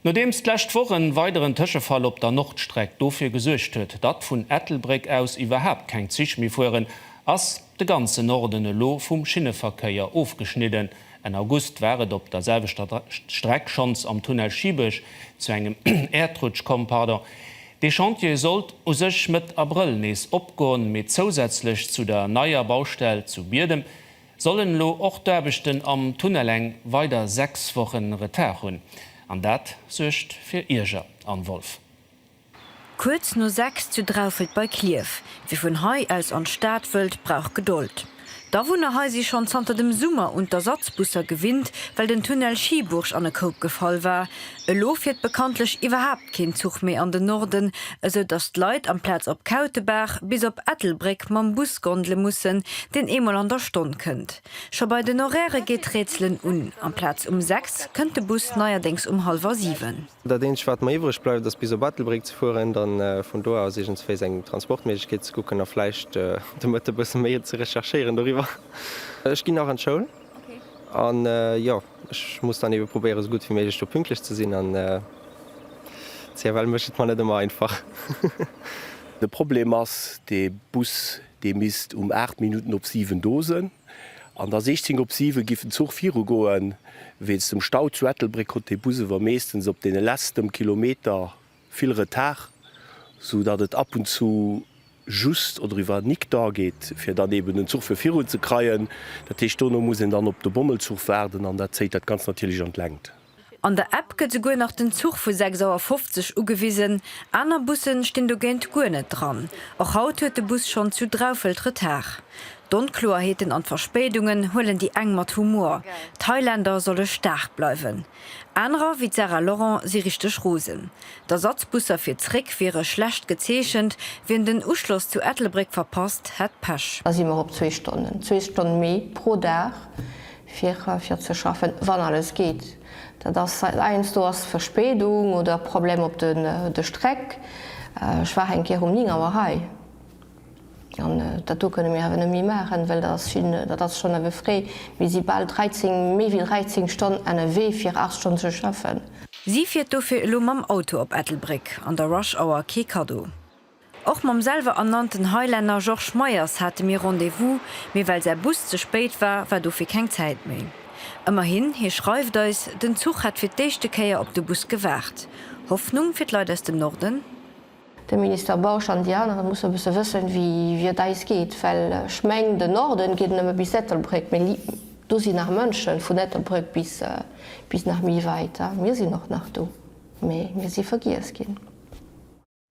Nodeems d'lescht Woch en weideren Tëschefall op der Nordstreck dofir gesuergt huet, datt vun Ettelbréck aus iwwerhaapt keng Zich méi fueren, ass de ganzen Norden elo vum Schinneverkéier ofgeschnidden. Enn August war et op der selwechter Streck schonns am Tunnel Schibech zu engem Äerdrutsch komm. Dee Chantier sollt u sech Mëtt Abrëll nees opgoen, mee zousätzlech zu der neier Baustell zu Biedem, Sollen elo och d'Aarbechten am Tunnel eng weider 6 Wochen Retard hunn? An dat suergt fir Ierger, Anne Wolff. Kuerz no 6 zu Draufelt bei Klierf. Wie vun hei aus an d'Stad wëllt, brauch Gedold. D'Awunner hei si schonn zanter dem Summer un d'Ersatzbusser gewinnt, well den Tunnel Schieburg an e Koup gefall war. Elo fiert bekanntlech iwwerhaapt keen Zuch méi an den Norden, esou datt d'Leit amplaz op Kautebaach bis op Ettelbréck mam Bus gondele mussen, deen eemol an der Stonn kënnt. Scho bei den Horairë geet d'Rätselen un, amplaz um sechs kënnt de Bus neierdéngs um hallwer siwen. Dat eenzegt wat mer iwwreg bleift ass bis op Ettelbréck ze fueren, da vun do aus iergendswéis eng Transportméiglechkeet ze kucken a vläicht de Mëtte bësse méi ze recherchéieren doriwwer. Ech ginn nach an d'Schoul an jo. Ech muss dann eben probéieren sou gudd wéi méiglech do pünktlech ze sinn an CFL mécht et mer net emmer einfach. De Problem ass de Bus dee misst um 8 Minutten op 7 do sen an da 16 op 7 giff den Zuch viru goen. Wéinst dem Stau zu Ettelbréck konnt de Bus ewer meeschtens op den lestem Kilometer Vill Retard, sou datt et ab und zu just oder iwwer nik dor geet, fir dann eben den Zuch fir virun ze kreien. Dat heescht, dono muss een dann op de Bommelzuch waarden an dat zéit dat Ganzt natierlech an d'Längt. An der App gëtt souguer nach den Zuch vu 6 Auer 50 ugewisen. Aner Busse stinn dogéint guer net dran. Och haut huet de Bus schonn zu Draufelt Retard. D'Onkloerheeten an d'Verspéidungen huelen déi eng mat Humor, d'Highlander solle staark bleiwen. Anerer, wéi d'Sarah Laurent, si richteg rosen. D'Ersatzbusser fir zréck wiere schlecht gezeechent, wien den Uschloss zu Ettelbréck verpasst, hätt Pech. Da si mer op zwee Stonnen, zwee Stonne méi pro Dag fir ze schaffen, wann alles geet. Dat ass heiansdo ass Verspéidung oder Problem op de Strecke. Ech war eng Kéier um 9 Auer hei. An dat do kënne mir awer net méi maachen, well dat ass vill, dat ass schonn awer fréi. Mir si bal 13, méi wéi 13 Stonn ennerwee fir 8 Stonn ze schaffen. Si fiert dofir elo mam Auto op Ettelbréck, an der Rush Hour kee Kaddo. Och mam selwer ernannten Highlander Georges Meyers hate mir Rendez-vous, mee well säi Bus ze spéit war, war dofir keng Zäit méi. Ëmmerhin, hie schreift eis, den Zuch hätt fir d'éischte Kéier op de Bus gewaart. Hoffnung fir d'Leit aus dem Norden? De Minister Bausch an déi aneren musse e bësse wëssen, wéi et eis geet. Well ech mengen, den Norden geet nëmme bis Ettelbréck, mee do sinn nach Mënschen, vun Ettelbréck bis nach méi wäit. Mir sinn och nach do, mee mir si vergiess ginn.